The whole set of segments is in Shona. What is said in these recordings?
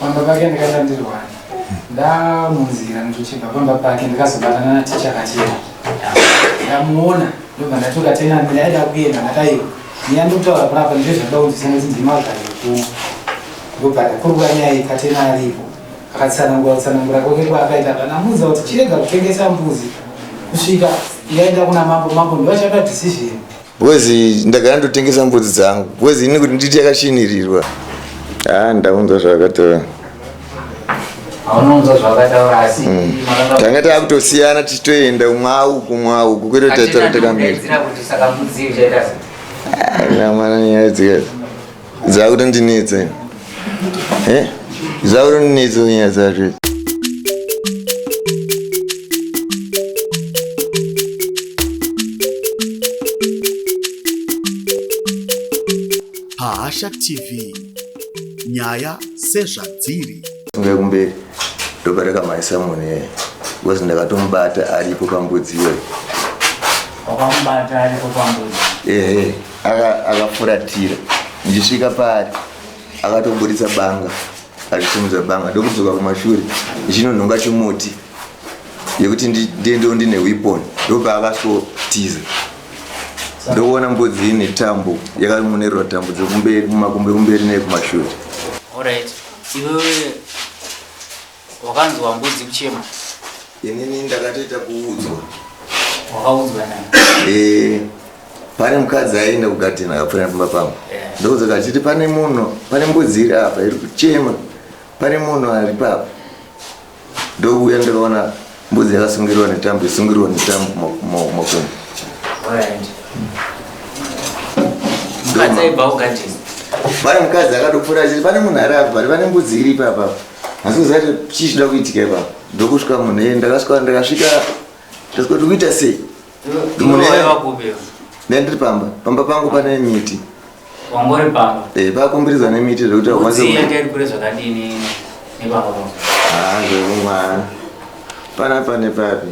pamba pake ndakaita ndirwani ndamunzira ndichibva pamba pake ndikazobatana naticha kachena ndamuona ndobva ndatoka tena ndaida kuenda ndakaiwa nyaya ndikutaura panapa ndizvo zvakaunzisa nekuti ndimazvaekuma ndobva ndakuruka nyaya ikatena aripo akatsanangura kutsanangura kwake kwaakaita panamunza kuti chirega kutengesa mbuzi kusvika yaenda kuna mambo mambo ndovachapa decision Because ndagara ndotengesa mbudzi dzangu. Because ini kuti nditi yakashinirirwa. Ah, ndaunza zvakataura. Aunounza zvakataura asi mm. tanga takutosiyana tichitoenda umwawu kumwawu kukwete taitaura takamira. Kuti saka mbudzi ichaita sei? Ah, nyaya dzikazi. Zauro ndinetsa. Eh? Zauro ndinetsa nyaya dzacho. Hasha TV nyaya sezvadziri funge kumberi ndopareka mai samon iyeye eh. because ndakatomubata aripo pambudzi iyoyo wakamubata aripo pambudzi ehe eh, eh. akafuratira ndichisvika paari akatoburitsa banga achisimudza banga ndokudzoka kumashure ndichinonhonga chimuti yekuti ndiendewo ndine weapon ndopaakasotiza ndokuona mbudzi ine tambo yakamonerwa tambo dzekumberi kumakumbe kumberi neye kumashure Alright. Iwewe Wakanzwa mbudzi kuchema? Inini ndakatoita kuudzwa. Wakaudzwa nani? Eh, pane mukadzi aienda kugadheni akapfuura nepamba pangu. Yeah. Ndoudzwa kuti achiti pane munhu, pane mbudzi iri apa iri kuchema. Pane munhu ari papa. Ndokuuya ndakaona mbudzi yakasungirwa netambo, isungirwa netambo mo- mo- mokumbo. Alright. Mukadzi aibva kugadheni. Pane mukadzi akatopfuura achiti pane munhu ari apa, pane mbudzi iri papa. asi kuzati chii chinoda kuitika ipapa ndokusvika munhu iye ndakasvika ndakasvika ndasvika kuti kuita sei munhu iye ndandiri pamba pamba pangu pane miti wangori pamba e pakombirizwa nemiti zvekuti akwanseiyakairi kure zvakadini nepamba pangu haa ah, zvekumwana panapa nepapi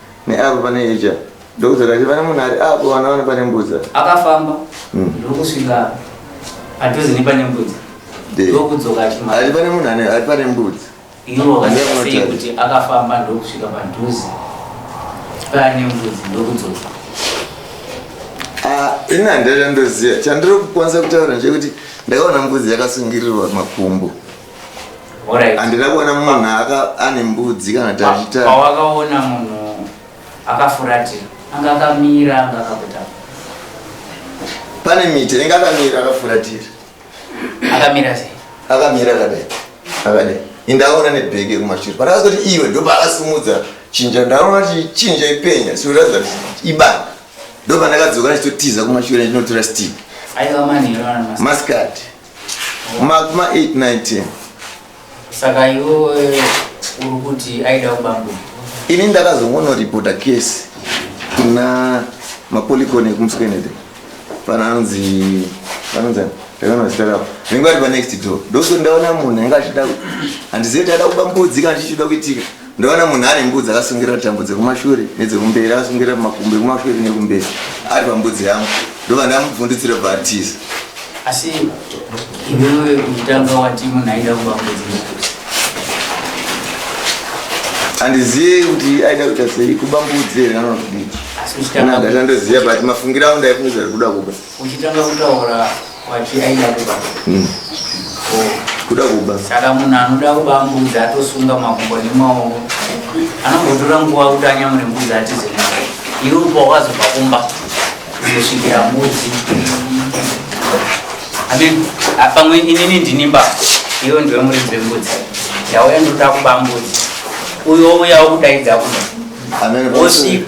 Neapo pane ija ndokuti rati vana munhu ari apo vana vana pane mbudza. Akafamba mm. ndokusvika padhuze nepane mbudza ndokudzoka achimara. Ari pane munhu ane ari pane mbudza. Iwo vakasei kuti akafamba ndokusvika padhuze pane mbudzi ndokudzoka. Ah, ini handira chandoziva chandiri kukwanisa kutaura ndechekuti ndakaona mbudzi yakasungirirwa makumbo. Alright. handina kuona munhu aka ane mbudzi kana kuti achiita pawakaona munhu akafuratira anga akamira anga akakuta pane miti inenge akamira akafuratira akamira sei akamira akadai akadai indaona nebhege yekumashure patakazoti iwe ndopaakasimudza chinja ndaona kuti chinja ipenya sikuratidza kuti ibanga ndopandakadzoka ndichitotiza kumashure ndinotora stick aiva manheru ana masikati masikati Mark ma 8 9 10. Saka iwe uri kuti aida kubambo. Ini ndakazongono reporta case kuna mapolikone ekumskenede. Pananzi pananzi Ndakaona zita ravo. Ringo ari pa next door. Ndokuti ndaona munhu anga achida handizive kuti ada kubambudzika ndichida kuitika. Ndoona munhu ane mbudzi akasungirira tambo dzekumashure nedzekumberi akasungirira makumbo ekumashure nekumberi ari pambudzi yangu ndobva ndamubvundutsira bva atiza asi iwewe mutamba wati munhu aida kuba mbudzi nekuti handizive kuti aida kuita sei kuba mbudzi here kana kudii asi uchitanga kana ndatandoziva but mafungiro angu ndaifungidzira kuti kuda kuba uchitanga kutaura kwati aida kuba mm. kuda kuba saka munhu anoda kuba mbudzi atosunga makumbo nemaoko anombotora nguva kuti anyamure mbudzi atize iwe uba wazobva kumba kuzosvikira mbudzi amen pamwe inini ndini mba iwe ndiwe muridzi wembudzi yauya ndoda kuba mbudzi uyo uyawo kudaidza kuba wosvika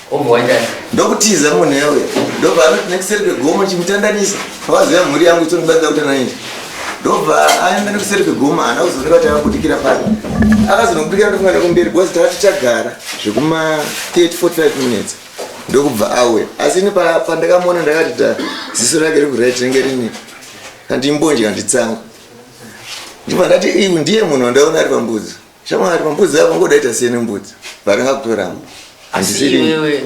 ndokutiza munhu yawe ndobva anoti nekuseri kwegomo chimutandanisa pavaziva mhuri yangu itondibatsira kuti anainji ndobva aenda nekuseri kwegomo haana kuzooneka kuti akabudikira pano akazonobudikira ndofunga nekumberi bcause tava tichagara zvekuma 345 minutes ndokubva auya asi ini pandakamuona ndakati ta ziso rake rekurit renge rini kandimbonje kanditsango ndibva ndati iu ndiye munhu wandaona ari pambudzi Shamwari pambudzi yako ngoda ita siyene mbudzi varanga kutoramba. Asi iwewe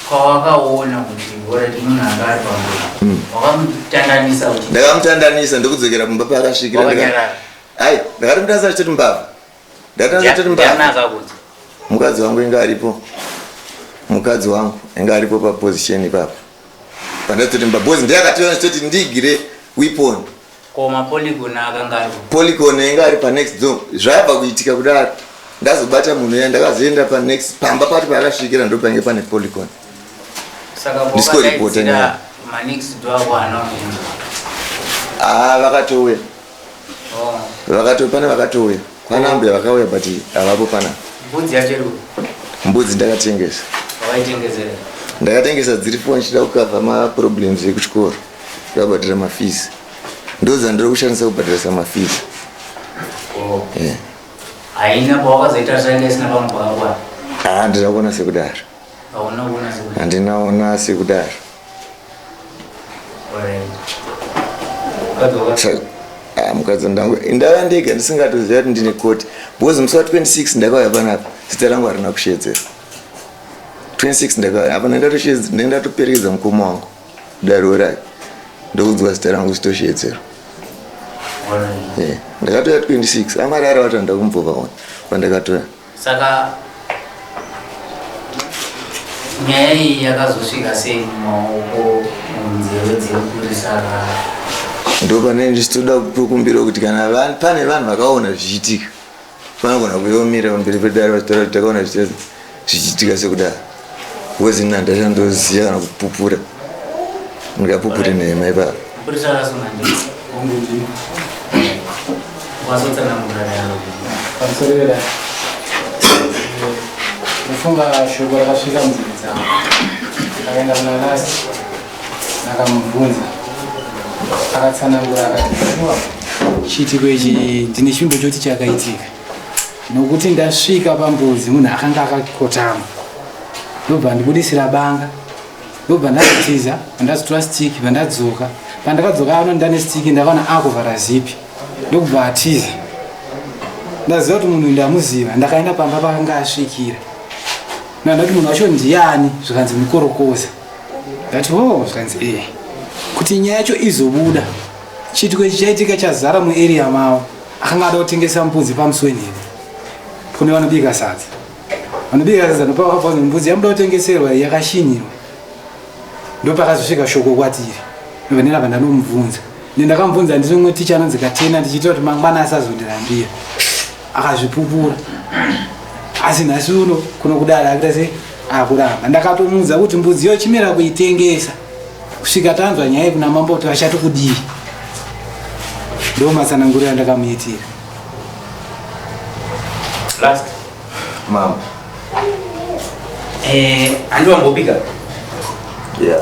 kwawakaona kuti ngora timunhu anga ari pambudzi. Hmm. Wakamutandanisa kuti. Ndakamutandanisa ndokudzokera kumba paakasvikira. Wakanyarara. Ai, ndakati mutasa achitoti mbavha. Ndakati achitoti mbavha. Ndiana akakudza. Mukadzi wangu inga aripo. Mukadzi wangu inga aripo pa position ipapo. Pandati kuti mbabhozi ndiye akationa achitoti ndigire weapon. Ko mapolygon akanga ari kupi? Polygon yanga ari pa next door. Zvayabva kuitika kudaro. Ndazobata munhu ya ndakazoenda pa next pamba pati paakasvikira ndopange pane polygon. Saka Disco reporter na. kwakadaidzira ma next door ako haana kuenda. Ah vakatouya. Oh, Vakatouya pane vakatouya. Kwana ambuya vakauya but havapo pana. mbudzi yacho iri kupi? Mbudzi ndakatengesa. Wakaitengezera. Ndakatengesa dziri foni ndichida kukavha ma problems ekuchikoro. Ndabhadhara mafees. Ndodzandiri kushandisa kubhadharisa mafees. Oh. Yeah. Haina pawakazoita zvanga isina pamwe pakakwana. Ah, ndina kuona sekudaro. Hauna kuona sekudaro. Handina kuona sekudaro. Alright. Kadzoka. Ah, mukadzi ndangu ndava ndega ndisingatoziva kuti ndine koti because musi wa 26 ndakauya panapa zita rangu harina kushedzera 26 ndakauya apa ndendatoperekedza mukoma wangu daro rai ndokunzwa zita rangu zitoshedzero ndakatoya 26 amari ari vatanda kumbova one pandakatoya saka nyaya iyi yakazosvika sei mumaoko munzeve dzekupurisa ndopane ndichitoda kukumbira kuti kana pane vanhu vakaona zvichiitika Vanogona kuyomira pamberi pedare vachitaura kuti takaona zvichiitika sekudaro because ini handasha ndoziva kana kupupura ndingapupure nhema ipapo kufunga shoko rakasvika munzeve dzavo akaenda kuna lasi ndakamubvunza akatsanangura akati chiitiko ichi ndine chivimbo choti chakaitika nokuti ndasvika pambuzi munhu akanga akakotama ndobva ndibudisira banga ndobva ndazitiza vandazotora stiki vandadzoka pandakadzoka ano ndane stiki ndakaona akuvhara zipi ndokubva atiza ndaziva kuti munhu ndamuziva ndakaenda pamba pakanga asvikira nandati munhu wacho ndiyani zvikanzi mikorokoza that oh zvikanzi eh kuti nyaya yacho izobuda chiitiko ichi chaitika chazara muarea mavo akanga ada kutengesa mbudzi pamusweni here kune vanobika sadza vanobika sadza ndopavakabvunza mbudzi yamuda kutengeserwa yakashinyirwa ndopakazosvika shoko kwatiri vanera vandanomubvunza nendakamubvunza ndiri mwe ticha anonzi katena ndichiitira kuti mangwana asazondirambira akazvipupura asi nhasi uno kuno kudara akuita sei akuramba ndakatomuudza kuti mbudzi yo chimira kuitengesa kusvika tanzwa nyaya yekuna mambo kuti vachati kudii ndo matsanangurira ndakamuitira last mambo eh, andiwambopika yeah.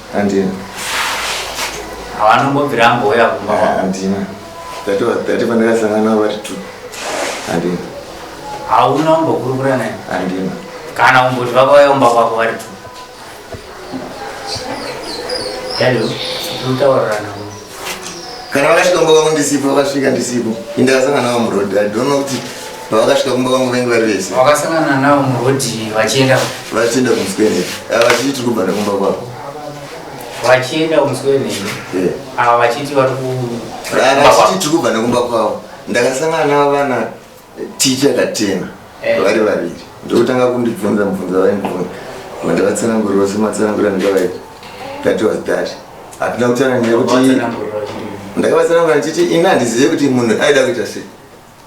Andina. Hawana kumbobvira ambouya kumba kwako. Andina. That was that pandakasangana navo vari two. Andina. Hauna kumbokurukura naye. Andina. Kana kumboti vakauya kumba kwako vari two. Daddy, utaurira navo. kana vakasvika kumba kwangu ndisipo vakasvika ndisipo ende vakasangana navo muroad i don't know kuti pavakasvika kumba kwangu vainge vari vese wakasangana navo muroad vachienda vachienda kumuswene ah, vachiti tiri kubva nekumba kwavo vachienda kumuswene eh. ava ah, vachiti vari vachiti tiri kubva nekumba kwavo ndakasangana navo vana ticha katena eh. vari vaviri ndokutanga kundibvunza mubvunzo vaindibvunza vandavatsanangurira sematsanangurira ndikavaita that was that hatina kutsanangira kuti ndakavatsanangura ndichiti ini handizive kuti munhu aida kuita sei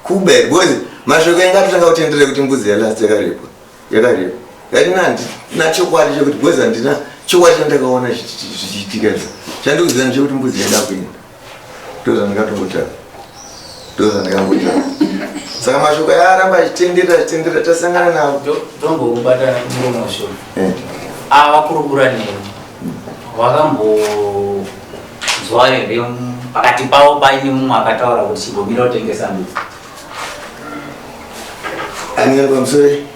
kuba here because mashoko anga atotanga kutendere kuti mbuzi yalast yakarepwa yakarepwa yati handina chokwadi chekuti because handina chokwadi chandakaona zvichiitika izvo chandikuziva ndichekuti mbuzi yaida kuenda ndozvandikatombotanga ndozvandikamboita saka mashoko yaaramba achitenderera achitenderera tasangana navo tombokubata murume washoko eh. avakurukura neni wakambonzwa here pakati pavo paine mumwe akataura kuti chigomira utengesa mbudzi anenge pamusori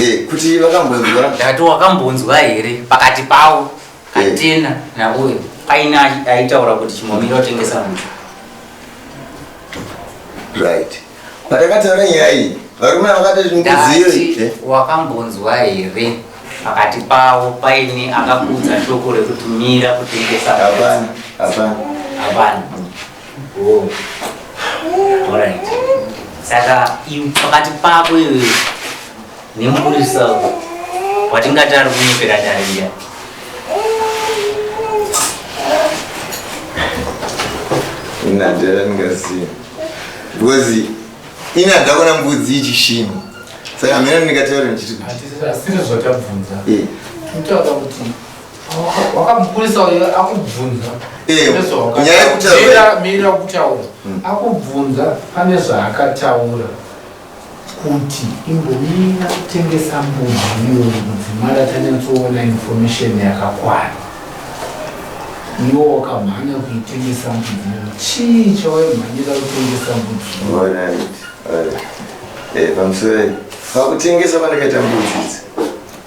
Eh, kuti vakambonzwa ndati wakambonzwa here pakati pavo katina eh. nauyo aina aitaura kuti chimomiri otengesa muti right patakataura nyaya iyi varume vakatazvimkuziyo eh? wakambonzwa here pakati pavo paine akakudza shoko rekutumira kutengesa hapana hapana hapana Oh. Alright. Saka iwe pakati pako iwe nemupurisa watingati ari kunyepera dariya. Ina dera ndingaziva. Because ina ndakona mbudzi ichishinha. Saka hamena ndingataura ndichiti. Hatisi zvakabvunza. Eh. Kutaura kuti wakamukurisa uyo akubvunza eh, nyaya yekutauraira kutaura hmm. akubvunza pane zvaakataura kuti imbomira kutengesa mbudzi iyo mudzimara tanyatsoona information yakakwana iwo wakamhanya kuitengesa mbudzi iyo chii chawaimhanyira kutengesa mbudzi iyo pamusoro pakutengesa pandakaita mbudzi idzi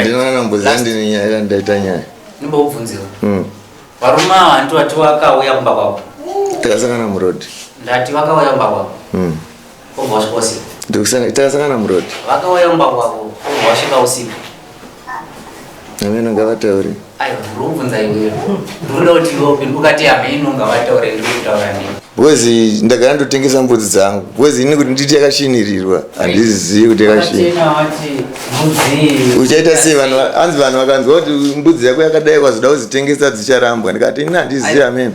ndinoona mbuzi ndine nyaya ira ndaita nyaya ndimbokubvunzira hmm. varume ava hanti vati vakauya kumba kwako takasangana murodi ndati vakauya kumba kwako hmm. obva wasvika usiku takasangana murodi vakauya kumba kwako obva wasvika usiku ameno ngavatauri Bwezi ndagara ndotengesa mbudzi dzangu. Bwezi ini kuti nditi yakashinirirwa handizivi kuti yakashinirirwa. Uchaita sei vanhu hanzi vanhu vakanzwa kuti mbudzi yako yakadai kwazoda kuzitengesa dzicharambwa ndikati ini handizivi amene.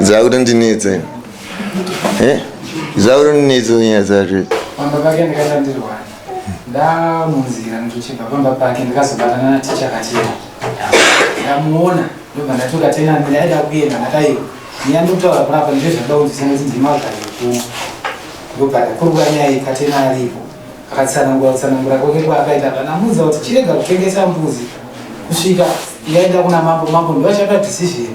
Zauri ndinitse. Eh? Zauri ndinitse nyaya zvacho. Pamba pake ndikaita ndirwara. Ndamunzira ndichibva pamba pake ndikazobatana na teacher kachena. Ndamuona ndobva ndatoka tena ndaida kuenda ndakaiwa. Nyaya ndokutaura kurapa ndizvo zvakaunzisa kuti ndima kugara kuno. Ndobva ndakurwa nyaya ikatena aripo. Akatsanangura kutsanangura kwake kwaakaita panamuudza kuti chirega kutengesa mbuzi kusvika yaenda kuna mambo mambo ndovachapa decision.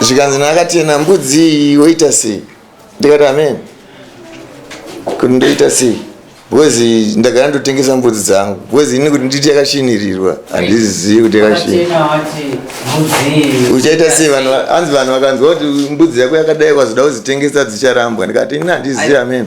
zvikanzi naakatena mbudzi iyi woita sei ndikati amen kuti ndoita sei bcozi ndagara ndotengesa mbudzi dzangu bcozi ini kuti nditi yakashinirirwa handizizivi kuti yakashiniuchaita sei vanhu hanzi vanhu vakanzwa kuti mbudzi yako yakadai kwazoda kuzitengesa dzicharambwa ndikati ini handizivi amen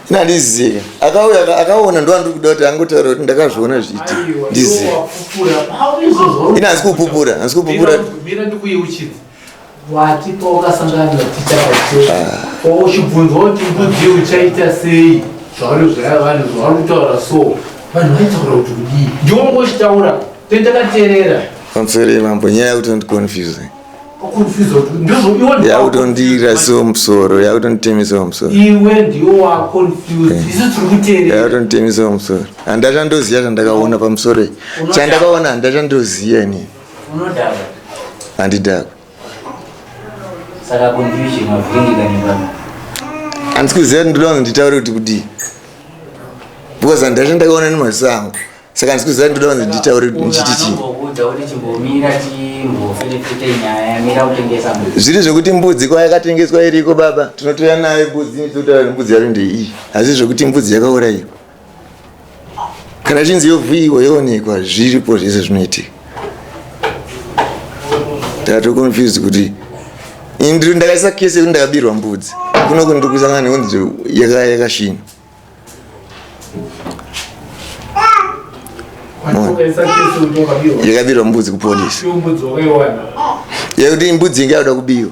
nandizive akauya akaona ndovandiri kuda kuti angotaura kuti ndakazviona zviiti ndizive ini hanzi kupupura hanzi kupupura pamseri mambo nyaya yekuti andiconfuse yakutondiira so musoro yakutonditemisa musoro iwe ndiwo waconfused eh. isu tiri kuteerera yakutonditemisa musoro handachandoziva chandakaona pamusoro iyi chandakaona handachandoziva ini unodhakwa handidhakwa saka confusion mavhiringikanibaa handisi kuziva kuti ndoda kuti nditaure kuti kudii because handachandakaona nemaziso angu saka ndisi kuziva ndoda kunzi nditaure ndichiti chii zviri zvekuti mbudzi kwa yakatengeswa iriko baba tinotoya nayo mbudzi totaura nembudzi yaro ndeiyi hazvii zvekuti mbudzi yakaurayiwa kana chinzi yovhuyiwa yoonekwa zviripo zvese zvinoitika tatoconfused kuti ndakaisa kese yekuti ndakabirwa mbudzi kunoku ndiri kuisangana nekunzi yakashinwa yakabirwa mbudzi kupolisi yakuti mbudzi inge yakuda kubiwa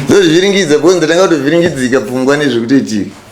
ndozvivhiringidza kuonzi ndatanga kutovhiringidzika pfungwa nezvekutoitika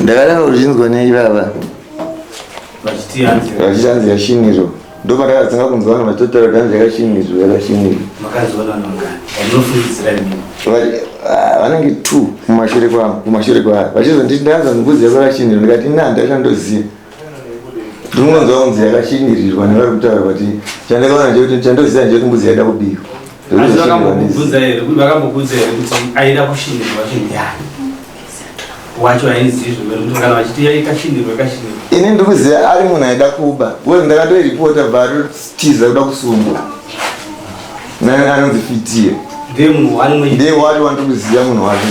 ndakadaro ndichinzwa neivava vachiti hanzi yashiniro ndopandakatanga kunzwa vanhu vachitotaura kuti hanzi yakashiniro yakashiniro ah, vanenge two kumashure kwavo kumashure kwavo vachizonditi ndaanza mubvunzi yako yakashiniro ndikati na ndaishandoziva ndinonzwa kunzi yakashingirirwa nevari kutaura kuti chandakaona ndechekuti chandoziva ndechekuti mbudzi yaida kubikwa vakambokubvunza here vakambokudza here kuti aida kushinirwa chinhu yani wacho aizivi zvimene kuti kana vachiti yaikashinirwa ikashinirwa ini ndiri kuziva ari munhu aida kuba bcause ndakatoiripota varotiza kuda kusungwa anonzi fitiye ndiye munhu wani ndiye wati wandiri kuziva munhu wake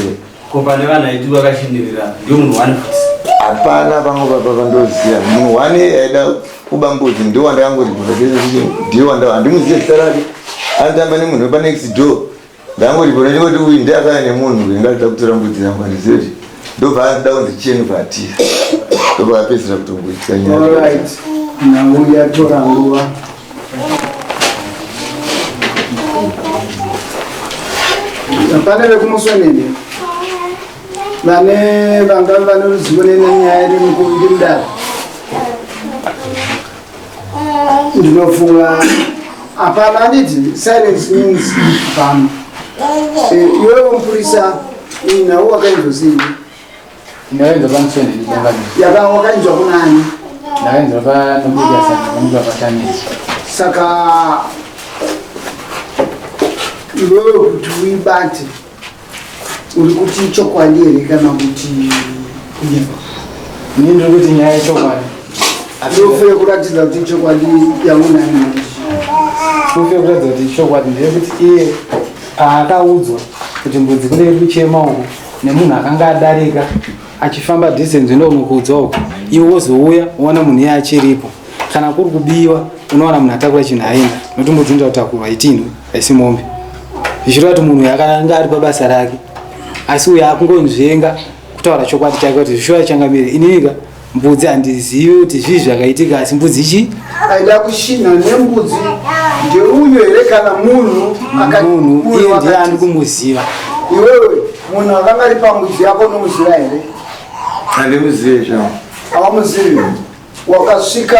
Ko pane vanhu aiti vakashindirira ndiyo munhu wani futi? Hapana vamwe baba vandoziva munhu wani aida kuba mbudzi ndiwo wandakangoti ndiwo wanda handimuzive zita rake anotamba nemunhu wepa next door ndangoti pona ndingoti uyu ndiye akaya nemunhu uyu ngatida kutora mbudzi yangu handizive kuti ndobva anoda kunzi cheni vatira ndobva apedzisira kutongoitika nyaya. All right. Now we are to Rangua. pane vekumusonene vane vangave vane ruzivo nenyaya iri mudare ndinofunga hapana anditi silence means bam eh, iwewo mupurisa nawo wakainzosii Ndaenza pamuswe ndinonga. Yaka wakainzwa kunani? Ndaenza pa nomudia saka nomudia patani. Saka iwewe kuti uibate uri kuti ichokwadi here kana kuti kunyepa? Ini ndiri kuti nyaya ichokwadi. Ndofeye kuratidza kuti ichokwadi yaunayo manje. Ndofeye kuratidza kuti ichokwadi ndeyekuti iye paakaudzwa kuti mbudzi kune iri kuchema uku nemunhu akanga adarika achifamba distance ino unokuudza uko iwe wozouya woona munhu iye achiripo kana kuri kubiwa unoona munhu atakura chinhu haina nokuti mbudzinza kutakurwa itinhu haisi mombe zvichireva kuti munhu uyu akanga ari pabasa rake asi uyo akungonzvenga kutaura chokwadi chake kuti zvishuva changamire ininika mbudzi handizivi kuti zvii zvakaitika asi mbudzi chi aida kushinha nembudzi ndeuyo here kana munhu munhu iye ndiye andi kumuziva iwewe munhu akanga ari pambudzi yako unomuziva here handimuzive zvavo awamuzivi wakasvika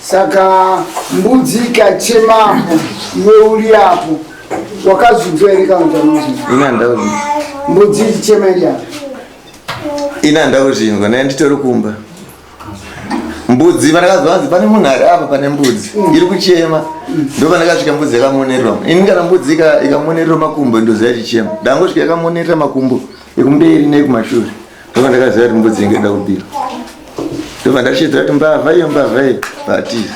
Saka mbudzi ikachemapo iwe uri apo wakazudzwa here kana kuti amuzinzwa? Ini handina kuzvinzwa. Mbudzi ichichema iri apo. Ini handina kuzvinzwa naye nditori kumba. Mbudzi pandakazwa hanzi pane munhu ari apa pane mbudzi iri kuchema ndo pandakasvika mbudzi yakamonererwa. Ini kana mbudzi ika- ikamonererwa makumbo ndoziva ichichema. Ndangosvika yakamonerera makumbo ekumberi nekumashure. Ndova ndakaziva kuti mbudzi inge ida kubira. Ndova ndachidza kuti mbavha iyo mbavha iyo batiza.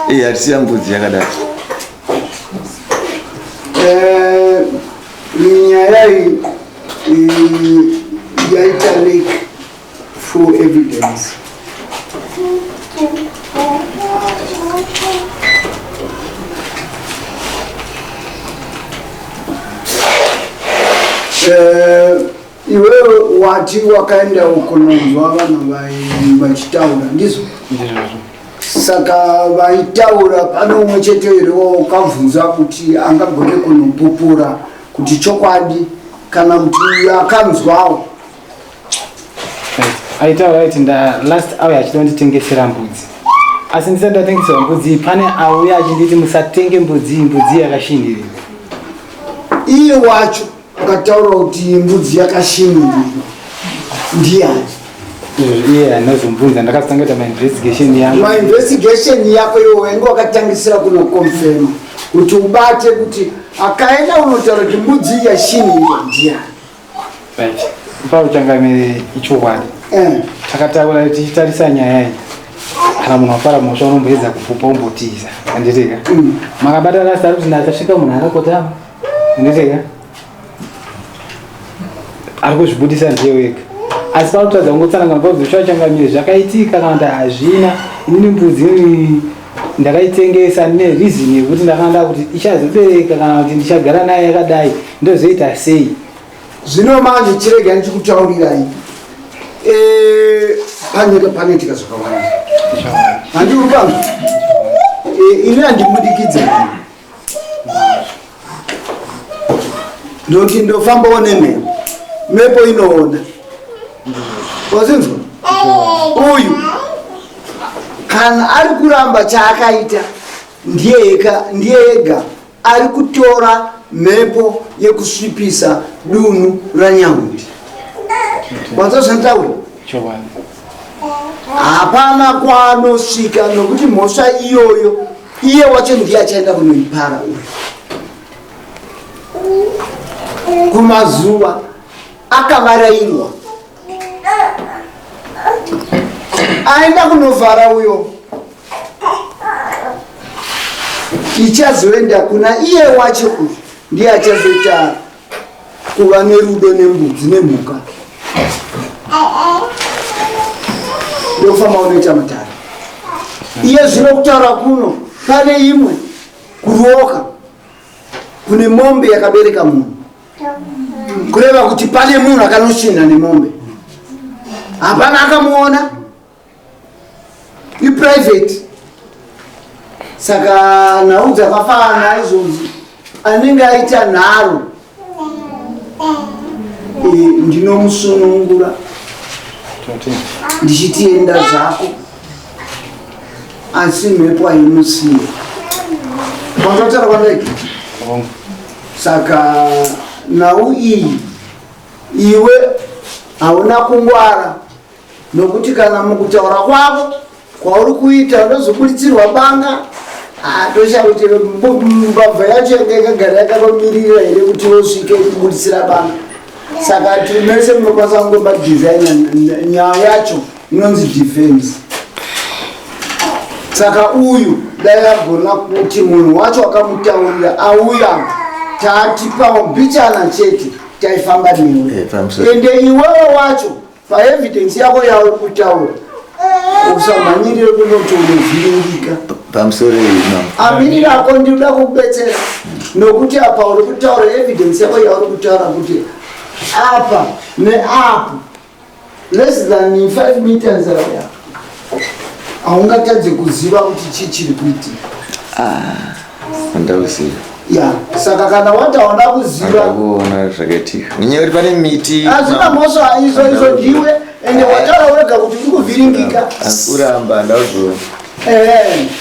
Iye hatisiya mbudzi yakadaro. Eh, nyaya iyi yaita lake Full evidence. Eh, iwewe wati wakaenda ukunonzwa vanhu vai- vachitaura ndizvo Ndizvozvo. saka vaitaura pane umwe chete here wakabvunza kuti angagone kunopupura kuti chokwadi kana kuti akanzwawo aitaura kuti nda last auya achitonditengesera mbudzi asi ndisati ndatengeserwa mbudzi pane auya achinditi musatenge mbudzi mbudzi yakashindirira iye wacho akataura kuti mbudzi yakashindirira ndiyani iye anozombunza ndakatanga kuita mainvestigation yangu mainvestigation yako iwo wainge wakatangisira kunokonfirma kuti ubate kuti akaenda unotaura kuti mbudzi yashinirwa ndiyani Right. Pauchangamire ichokwadi. Eh. Takataura kuti titarisa nyaya iyi. Kana munhu wafara mhosva unomboedza kupupa umbotiza. Anditeka. Mm. Makabata last ari kuti ndakasvika munhu akakotama. Anditeka. Ari kuzvibudisa ndiye wega. Asi pautadza kungotsananga ngozi zvachangamire zvakaitika kana kuti hazvina. Ini mbudzi ndakaitengesa ne reason yekuti ndakanga kuti ichazobereka kana kuti ndichagara naye yakadai Ndozoita sei? Zvino manje chirega ndichikutaurirai. Eh, panyika panoitika zvakawanda. Handi upangu. Eh, ini andimudikidze. Ndoti ndofamba one me. Mepo inoona. Wazinzwa? Uyu kana ari kuramba chaakaita ndiye ega ndiye ega ari kutora mhepo yekusvipisa dunhu ranyahundi wazozvataura hapana kwaanosvika nokuti mhosva iyoyo iye wacho ndiye achaenda kunoipara uyo kumazuva akavarairwa aenda kunovhara uyo ichazoenda kuna iye wacho uyu ndiye achazoita kuva nerudo nembudzi nemhuka ndokufamba unoita matare iye zvino kutaura kuno pane imwe kuroka kune mombe yakabereka munhu kureva kuti pane munhu akanoshinha nemombe hapana akamuona iprivate saka nhau dzakafanana izvozvi anenge aita nharo eh, ndinomusunungura ndichitienda zvako asi mhepo aimusiya kwakataura kwandai saka nhau iyi iwe hauna kungwara nokuti kana mukutaura kwavo kwauri kuita ndozoburitsirwa banga tosha kuti mbabva yacho yanga yakagara yakakomirira here kuti wosvike kuburitsira banga saka timese munokwanisa kungomba divhenya nyaya yacho inonzi defense saka uyu dai agona kuti munhu wacho akamutaurira auya tatipawo mbichana chete taifamba newe eh, ende iwewe wacho paevidence yako yauri kutaura usamhanyirire kunoti unovhiringika pamusoro amiri rako ndikuda kukubetsera nokuti apa uri kutaura evidence yako yauri kutaura kuti apa neapo less than 5 meters away haungatadze kuziva kuti chii chiri kuitika andauziva ya saka kana wati hauna kuziva andakuona zvakaitika nenyaya yekuti pane miti hazvina mhosva izvo izvo ndiwe ende wataura wega kuti uri kuvhiringika asi uramba andauziva Ehe.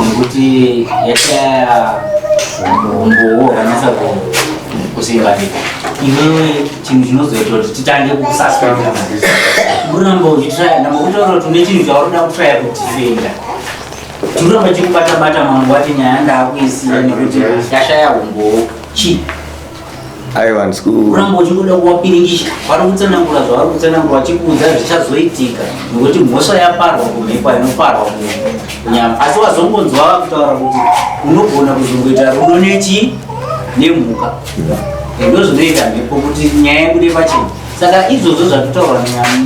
nekuti yashaya umbowo hwakanasa kusimbanika iwewe chinhu chinozoita kuti titange kukusaspenda kuramba uchitraya namba kutaura kuti une chinhu chauri kuda kutraya kudifenda tikuramba chikubata bata mangu wati nyaya ndakuisiya nekuti yashaya umbowo chii Aiwa ndisiku. Kuramba uchingoda kuwapiringisha. Vari kutsanangura zvavari kutsanangura vachikuudza zvichazoitika nekuti mhosva yaparwa kumhepo inoparwa kunyama. Asi wazongonzwa vakutaura kuti unogona kuzongoita rudo nechi nemhuka. Ndo zvinoita mhepo kuti nyaya yebude pachena. Saka izvozvo zvatotaurwa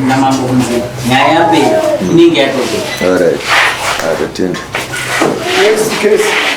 namambo kunzi nyaya yapera inenge yatopera. All right. Atotenda. Yes, case.